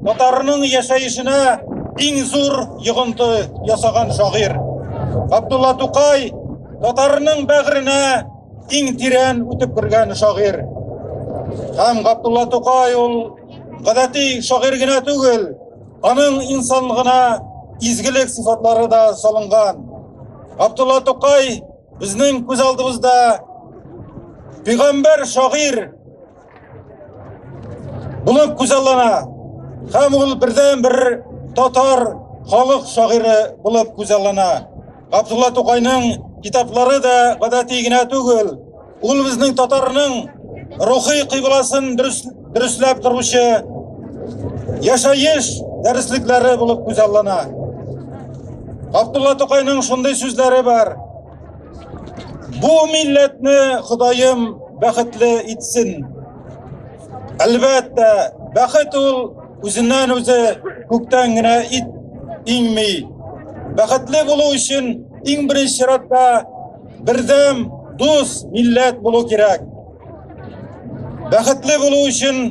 Татарның яшәешенә иң зур йогынты ясаган шагыйрь. Габдулла Тукай татарның бәгыренә иң тирән үтеп кергән шагыйрь. Һәм Габдулла Тукай ул гадәти шагыйрь генә түгел, аның инсанлыгына изгелек сыйфатлары да салынган. Габдулла Тукай безнең күз алдыбызда пигамбәр шагыйрь Булып күзаллана һәм ул бердән бер татар халык шагыйре булып күзаллана. Габдулла Тукайның китаплары да гадәти генә түгел. Ул безнең татарның рухи кыйбласын дөресләп торучы яшаеш дәреслекләре булып күзаллана. Габдулла Тукайның шундый сүзләре бар. Бу милләтне Ходаем бәхетле итсен. Әлбәттә, бәхет ул үзеннән үзе күктән генә ит иңми. Бәхетле булу өчен иң беренче чиратта бердәм, дус милләт булу кирәк. Бәхетле булу өчен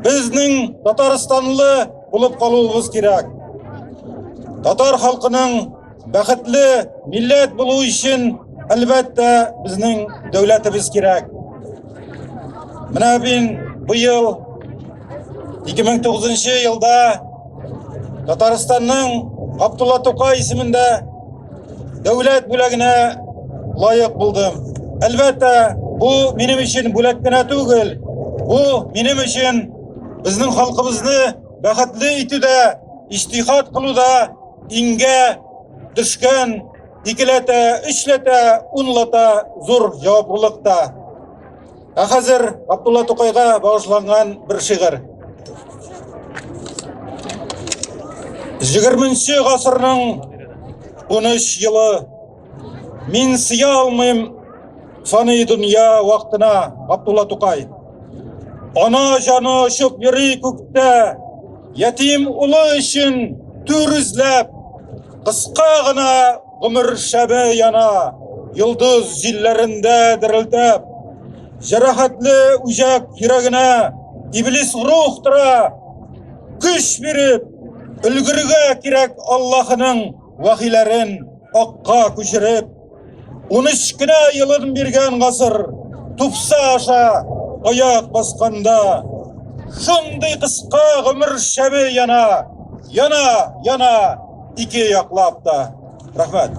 безнең татарстанлы булып калуыбыз кирәк. Татар халкының Бәхетле милләт булу өчен, әлбәттә, безнең дәүләтебез кирәк. Менә мин быел 2009 елда Татарстанның Абдулла Тукай исемендә дәүләт бүләгенә лаек булдым. Әлбәттә, бу минем өчен бүләк кенә түгел, бу минем өчен безнең халкыбызны бәхетле итүдә, иҗтихад кылуда Иңгә төшкән икеләтә, өчләтә, унлата зур җаваплылык та. Ә хәзер Абдулла Тукайга багышланган бер шигырь. 20 гасырның 13 елы Мин сыя алмыйм саный дөнья вакытына, Габдулла Тукай. Ана җаны очып йөри күктә, ятим улы өчен түр эзләп, кыска гына гомер шәбе яна, йолдыз җилләрендә дерелдәп. Җәрәхәтле үҗәк йөрәгенә иблис рух тора, көч биреп, өлгергә кирәк Аллаһының вәхиләрен. Акка күчереп, 13 кенә елын биргән гасыр тупса аша аяк басканда, шундый кыска гомер шәбе яна, яна, яна ике яклап та. Рәхмәт.